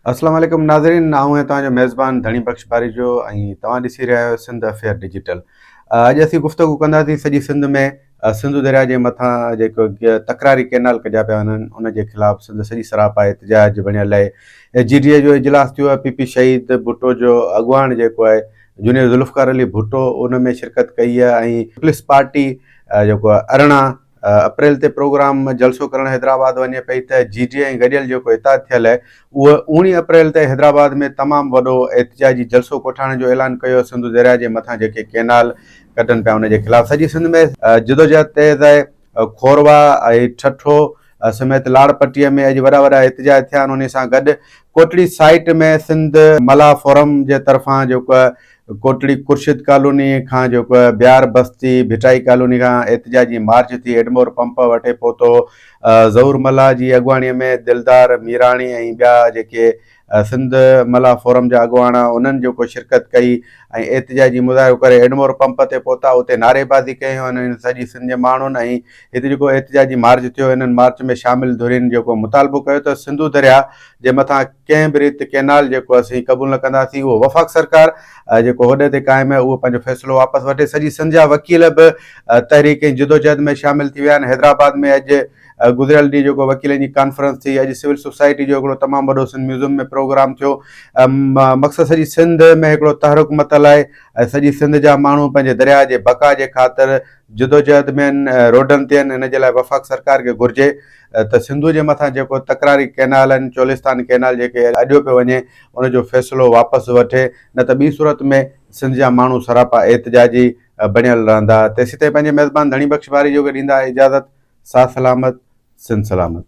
اسلام عليڪم ناظرين آئون آهيان توهان جو ميزبان ڌڻي بخش پاريجو ۽ توهان ڏسي رهيا آهيو سنڌ افيئر ڊجيٽل اڄ اسين گفتگو ڪنداسين سڄي سنڌ ۾ سنڌو درياء جي مٿان جيڪو تڪراري ڪينال ڪڍيا پيا وڃن ان جي خلاف سنڌ سڄي سراپا احتجاج بڻيل آهي جي ڊي اي جو اجلاس ٿيو آهي پي پي شهيد ڀٽو جو اڳواڻ جيڪو آهي جونيئر ذوالفقار علي ڀٽو ان ۾ شرڪت ڪئي آهي ۽ پلس پارٽي جيڪو ارڙهن اپريل تي پروگرام جلسو ڪرڻ حيدرآباد وڃي پئي ته جي جي ۽ گڏيل جيڪو اتحاد ٿيل اهي اهي اوڻي اپريل تي حيدرآباد ۾ تمام وڏو احتجاجي جلسو ڪوٺائڻ جو اعلان ڪيو سنڌو درياء جي مٿان جيڪي ڪينال ڪٽن پيا ان جي خلاف سڄي سنڌ ۾ جدوجهد تيز آهي کوروا ۽ ٺٺو سميت لاڙپٽي ۾ اڄ وڏا وڏا احتجاج ٿيا ان سان گڏ ڪوٽڙي سائيٽ ۾ سنڌ ملاح فورم جي طرفان جيڪو ڪوٽڙي خورشيد ڪالوني کان جيڪو بيار بستي ڀٽائي ڪالوني کان احتجاجي مارچ ٿي ايڊمور پمپ وٺي پهتو ظهور ملاح جي اڳواڻي ۾ دلدار ميراڻي ۽ ٻيا جيڪي سنڌ ملاح فورم جا اڳواڻ انهن جيڪو شرڪت ڪئي ۽ احتجاجي مظاهرو ڪري ايڊمور پمپ تي پهتا اتي نعريبازي ڪئي هن سڄي سنڌ جي ماڻهن ۽ هتي جيڪو احتجاجي مارچ ٿيو انهن مارچ ۾ شامل ڌرين جيڪو مطالبو ڪيو ته سنڌو درياء جي مٿان ڪنهن به ريت ڪئنال جيڪو اسين قبول نه ڪنداسين اهو وفاق سرڪار جيڪو هوڏي تي قائم آهي اهو پنهنجو فيصلو واپس وٺي سڄي سنڌ جا وڪيل به تحريڪ ۽ جدوجهد ۾ شامل ٿي ويا آهن حيدرآباد ۾ اڄ گذريل ڏينهن جيڪو وڪيلن جي ڪانفرنس ٿي اڄ سول سوسائٽي جو هڪڙو تمام وڏو سنڌ ميوزم ۾ پروگرام ٿيو مقصد سڄي سنڌ ۾ هڪڙو تحرڪ متل آهي ۽ سڄي سنڌ جا ماڻهو پنهنجي درياء جي بقا جي خاطر جدوجهد ۾ آهن روڊن تي آهن ان جي لاء وفاق سرڪار کي گهرجي ته سنڌوء جي مٿان جيڪو تڪراري ڪئنال آهن چولستان ڪئنال جيڪي اڏيو پيو وڃي ان جو فيصلو واپس وٺي نه ته ٻي صورت ۾ سنڌ جا ماڻهو سراپا احتجاجي بڻيل رهندا تيسين تائين پنهنجي ميزبان ڌڻي بخش ٻاري جوڳي ڏيندا اجازت ساھ سلامت سنڌ سلامت.